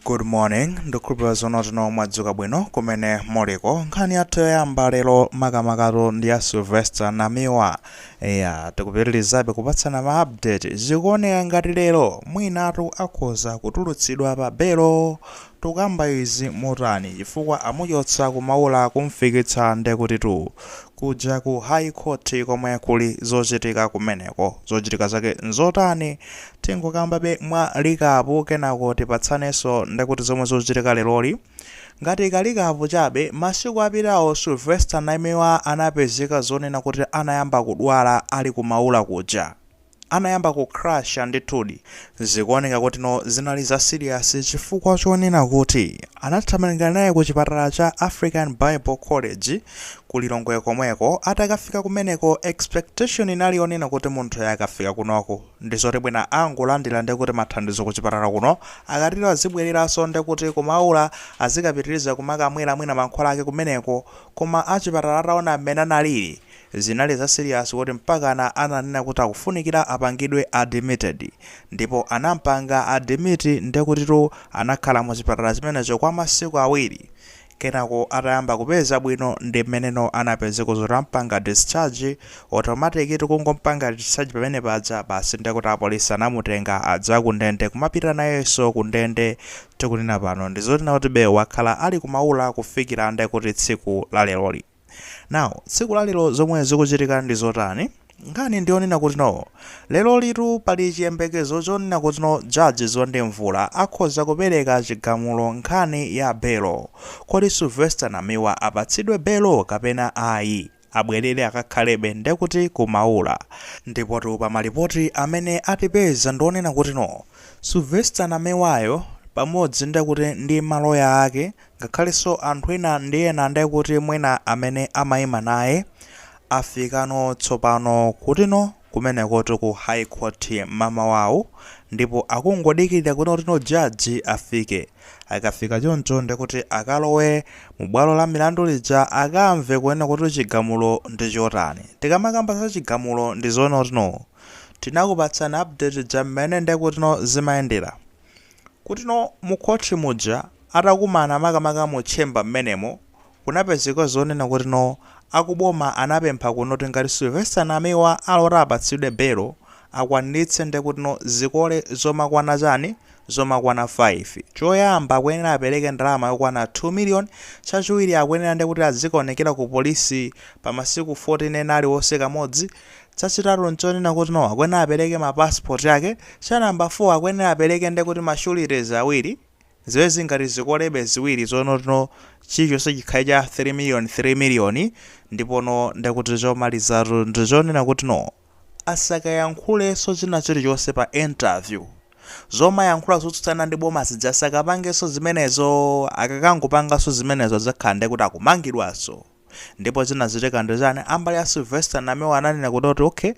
Good morning, ndukhulupilira zonotino mwadzuka bwino kumene muliko. Nkhani yathu yoyamba lero makamakatu ndi ya Sylvester Namiwa. Eya, tikupitilizabe kupatsana ma update. Zikuoneka ngati lero mwinatu akhoza kutulutsidwa pa belo. Tukamba izi motani chifukwa amuchotsa ku Maula kumfikitsa ndekutitu kuja ku High Court komwe kuli zochitika kumeneko. Zochitika zake nzotani? Tingokambabe mwa likapu kenako tipatsanenso ndekuti zomwe zochitika leroli. Ngati ka likapu chabe, masiku apitawo Sylvester Namiwa anapezeka zonena kuti anayamba kudwala ali ku Maula kuja. Anayamba ku crash ndithudi. Zikuoneka kutino zinali za serious chifukwa chonena kuti anathamangira naye ku chipatala cha African Bible College ku Lilongwe komweko. Atakafika kumeneko expectation inali yonena kuti munthuyi akafika kunoko. ndizoti mwina angolandila ndekuti mathandizo kuchipatala kuno akatero azibweleranso ndekuti kumaula azikapitiliza kumakamwela mwina mankhwala ake kumeneko koma achipatala ataona mmene analili zinali za serious kuti mpakana ananena kuti akufunikila apangidwe admitted ndipo anampanga admit ndekutitu anakhala muchipatala chimenecho kwa masiku awiri Kenako atayamba kupeza bwino ndimmeneno anapezeka zoti ampanga discharge automatic atangompanga discharge pamene paja basi ndekuti apolisi anamutenga a za kundende kumapita nayenso kundende tikunena pano ndizonena kutibe wakhala ali ku maula kufikila ndekuti tsiku laleroli Now, tsiku la lero zomwe zikuchitika ndi zotani? Nkhani ndiyonena kutino, lerolitu pali chiyembekezo chonena kutino Judge Zondi Mvula akhoza kupereka chigamulo nkhani ya belo. Kodi Sylvester Namiwa apatsidwe belo kapena ayi? abwerere akakhalebe ndekuti ku Maula. Ndipotu pa malipoti amene atipeza ndionena kutino, Sylvester Namiwayo pamodzi ndekuti ndi maloya ake Ngakhalenso anthu ena ndi ena ndekuti mwina amene amaima naye afikano tsopano kutino kumenekotu ku High Court mamawawu ndipo akungodikilira kunena kutino judge afike. Akafika choncho ndekuti akalowe mu bwalo la milandu lija akamve kunena kuti chigamulo ndi chotani. Tikamakamba za chigamulo ndi zonena kutino tinakupatsani update ija mmene ndekutino zimayendera. Kutino mu khoti muja atakumana makamaka mu chamber mmenemo kunapezeka zonena kutino akuboma anapempha kunena kuti ngati Sylvester Namiwa ali oti apatsidwe belo akwanilitse ndekutino zikole zomakwana chani zomakwana 5 choyamba akuyenera apeleke ndalama yokwana 2 million chachiwiri akuyenera ndekuti azikaonekera ku polisi pa masiku 14 ena aliwonse kamodzi Chachitatu nchonena kuti no akuyenera apereke ma passport yake, cha number 4 akuyenera apereke nde kuti ma sureties awiri, ziwiri ngati zikolebe ziwiri zonoti no chilichonse chikhale cha 3 million 3 million, ndipo no nde kuti chomalizatu ndi chonena kuti no asakayankhulenso china chilichonse pa interview, zomayankhula zotsutsana ndi boma zija asakapangenso zimenezo, akakangopanganso zimenezo adzakhala nde kuti akumangidwanso. ndipo zinachitika ndi chani ambali ya Sylvester Namiwa ananena kuti oti okay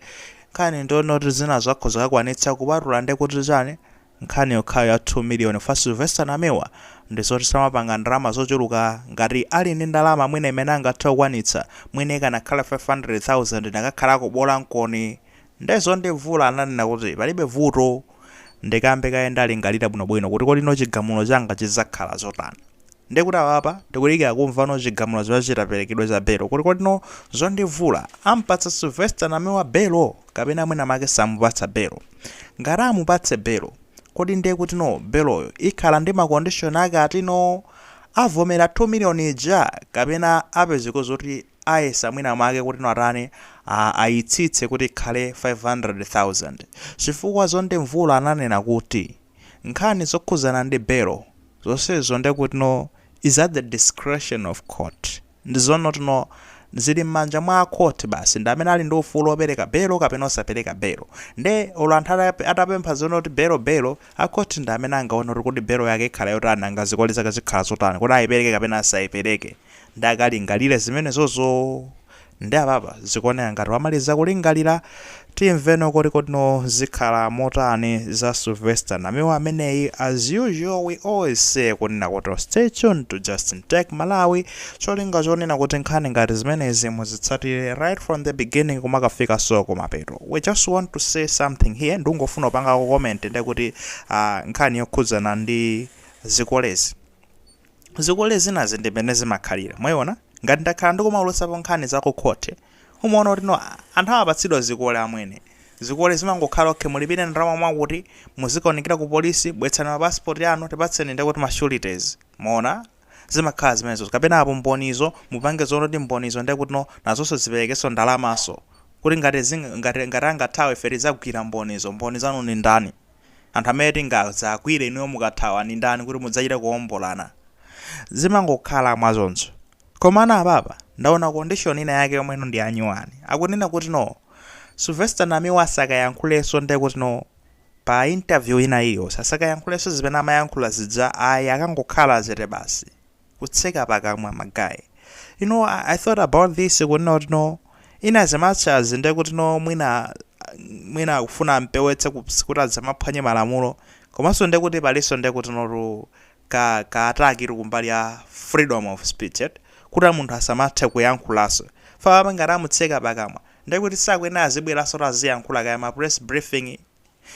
nkhani ndi yonena kuti zina akhoza kukwanitsa kupatula ndi kuti chani nkhani yokhayo ya 2 million for Sylvester Namiwa ndi zoti samapanga ndalama zochuluka ngati ali ndi ndalama mwina imene angathe kukwanitsa mwina ikanakhala 500,000 nkanakhalako bola nkoni Nde Zondi Mvula ananena kuti palibe vuto ndikambe kaye ndilingalire bwinobwino kuti kodi no chigamulo changa chidzakhala zotani. Nde kuti apapa tikudikira kumva no chigamulo chitaperekedwe cha belo kuti kodi no Zondi Mvula ampatsa Sylvester Namiwa belo kapena mwina mwake samupatsa belo. Ngati amupatse belo kodi nde kuti no beloyo ikhala ndi ma condition ake ati no avomera 2 million ija kapena apezeko zoti ayesa mwina mwake kutino atani a ayitsitse kuti ikhale 500,000 chifukwa Zondi Mvula ananena kuti nkhani zokhuzana ndi belo zonsezo nde kutino is at the discretion of court ndi zonoti no zili mmanja mwa a court basi ndi amene ali ndi ufulu opeleka belo kapena osapeleka belo nde olo anthu atapempha zonoti belo belo a court ndi amene angaone kuti kodi belo yake ikhala yotani nanga zikole zake zikhala zotani kodi ayipeleke kapena asayipeleke ndakalingalire zimenezozo. Nde apapa zikuoneka ngati wamaliza kulingalira, timveno kuti kodi no zikhala motani za Sylvester Namiwa ameneyi, as usual we always say kunena kuti stay tuned to Justin Tech Malawi cholinga chonena kuti nkhani ngati zimenezi muzitsatire right from the beginning kumakafikanso kumapeto. We just want to say something here ndikungofuna kupangako comment ndekuti ah nkhani yokhudzana ndi zikolezi. Zikole zinazi ndimene zimakhalira mwaiona ngati ndakhala ndikumaulutsapo nkhani za ku court umaona kuti no anthu amapatsidwa zikole amwene zikole zimangokhala ok mulipire ndalama mwakuti muzikaonekera ku police bwetsani ma passport anu tipatseni ndekuti ma sureties mwaona zimakhala zimenezozo kapena apo mbonizo mupange zoona kuti mbonizo ndekuti no nazonso ziperekenso ndalamanso kuti ngati ngati angathawe ife tizagwira mbonizo mboni zanu ndi ndani Anthu amene tingadzagwire inuyo mukathawa ndi ndani kuti mudzachite kuombolana? Zimangokhala mwachoncho. Komano apapa ndaona condition ina yake yomwe no ndiyanyuwani. Akunena kuti no Sylvester Namiwa asakayankhulenso ndekuti no pa interview ina iliyonse asakayankhulenso zimene amayankhula zija ayi akangokhala chete basi. kutseka pakamwa magaye you know I, I thought about this kunena kuti no in as much as ndiye kuti no mwina mwina kufuna ampewetse ku- kuti adzamaphwanye malamulo komanso ndiye kuti palinso ndiye kuti notu ka ka attack iri kumbali ya freedom of speech eti kuti munthu asamathe kuyankhulanso chifukwa ngati amutseka pakamwa ndiye kuti sakuyenera azibweranso kuti aziyankhula kaya ma press briefing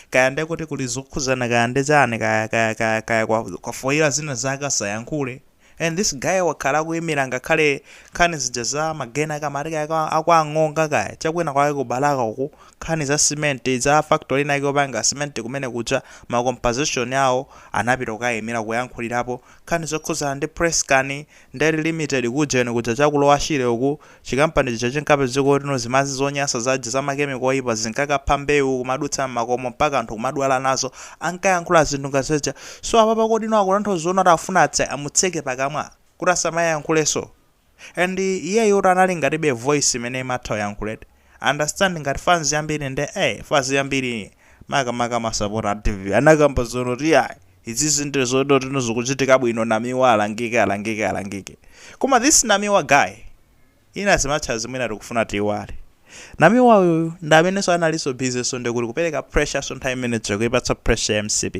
kaya ndekuti kuli zokhudzana kaya ndi chani kaya kaya kaya kaya kwa foira zina zake asayankhule and this guy wakhala akuimira ngakhale nkhani zija za magena kamati kaya kwa- akwang'onga kaya chakwina kwake ku balaka uku nkhani za cement za factory inayake yopanga cement kumene kuja ma composition awo anapita kukaimira kuyankhulirapo nkhani zokhudzana ndi press cane Ndale limited kujeni kuja cha ku lower shire uku, chikampani chija chinkapezeketsa kuti no zimadzi zonyansa zaja za ma chemical oyipa zinkakapha mbewu kumadutsa mmakomo mpaka anthu kumadwala nazo, ankayankhula zinthu ngati zija, so apapa kodi no akutanthauza zonoti akufuna atse amutseke pakamwa? Kuti asamayankhulenso? And iyeyotu anali ngatibe voice imene imatha kuyankhuladi. understand ngati fans yambiri nde fans yambiri makamaka masapota a dpp anakamba zonoti ayi izizi ndi zonoti no zikuchitika bwino namiwa alangike alangike alangike koma this namiwa guy in as much as mmene tikufuna tiiwale namiwa uyu ndi amenenso analinso busy-nso ndikuti kupereka pressure-nso nthawi imene akuipatsa pressure mcp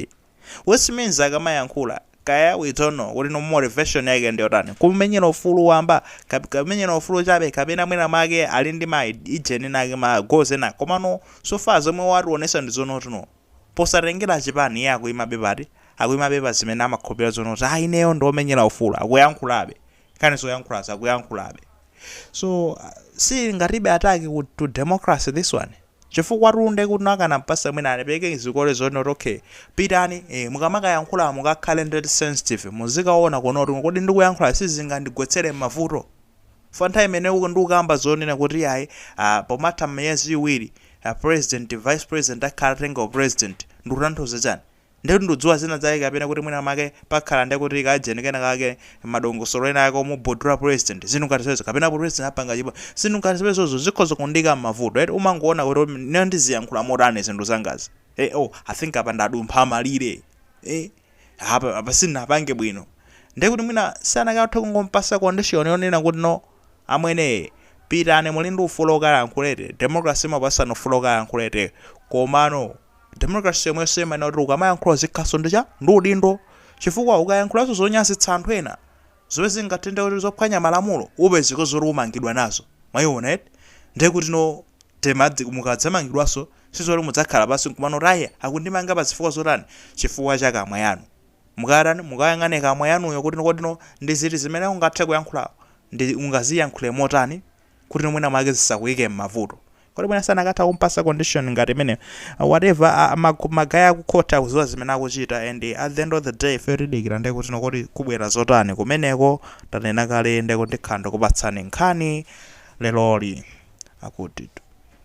which means akamayankhula kaya we don't know kuti no motivation yake ndiyotani kumenyera ufulu wamba kap- kumenyera ufulu chabe kapena mwina mwake ali ndi ma ujeni ake ma goals ena komano so far zomwe wationesa ndi zonoti no posatengera chipani iye akuyimabe pati akuyimabe pa zimene amakhulupirira zonoti ayi ineyo ndi womenyera ufulu akuyankhulabe kani zoyankhulazo akuyankhulabe so uh, zili ngatibe attack ku- to democracy this one Chifukwatu nde kuti anakampasa mwina alipeke zikole zonoti ok pitani ee mukamakayankhula mukakhale ndeti sensitive muzikaona kuona kuti kodi ndikuyankhula sizingandigwetsere mmavuto chifukwa nthawi imene ndikukamba zonena kuti iyayi aah pomatha miyezi iwiri aah president vice president akhala atenga u president ndikutanthauza chani Ndiye kuti ndikudziwa zina zake kapena kuti mwina make pakhala ndiye kuti kajeni kena kake madongosolo ena ake omugudula president zinthu ngati zimenezo kapena president apanga chipo zinthu ngati zimenezo zikhoza kundiika m'mavuto eti umangoona kuti "Mm, ineyo ndiziyankhula motani zinthu zangazi eh oh i think apa ndadumpha malire eh apa apa sindinapange bwino ndiye kuti mwina anakatha kungompasa condition yonena kuti no Amwene pitani muli ndi ufulu okayankhula eti democracy imapasa ufulu okayankhula eti komano democracy yomweyonso imanena kuti ukamayankhula uzikhalaso ndi cha ndi udindo chifukwa ukayankhulaso zonyazitsa anthu ena zomwe zingathe ndekuti zophwanya malamulo upezeke zoti umangidwa nazo mwayiona eti ndiye kuti no mukadzamangidwaso sizoti mudzakhala pansi nkumanena kuti ayi akundimanga pazifukwa zotani chifukwa cha kamwa yanu mukayatani, mukayang'ane kukamwa yanuyo kuti kodino ndi ziti zimene ungathe kuyankhula ndi ungaziyankhule motani kutino mwina mwake zisakuyike m'mavuto. Kodi mwina sanakatha kumpasa condition ngati imeneyo. Whatever ma guy aku court akuziwa zimene akuchita and at the end of the day ifeyo tidikira nde kutino kodi kubwera zotani kumeneko. Tanena kale nde kuti ndikhala ndikupatsani nkhani leroli. Akutitu.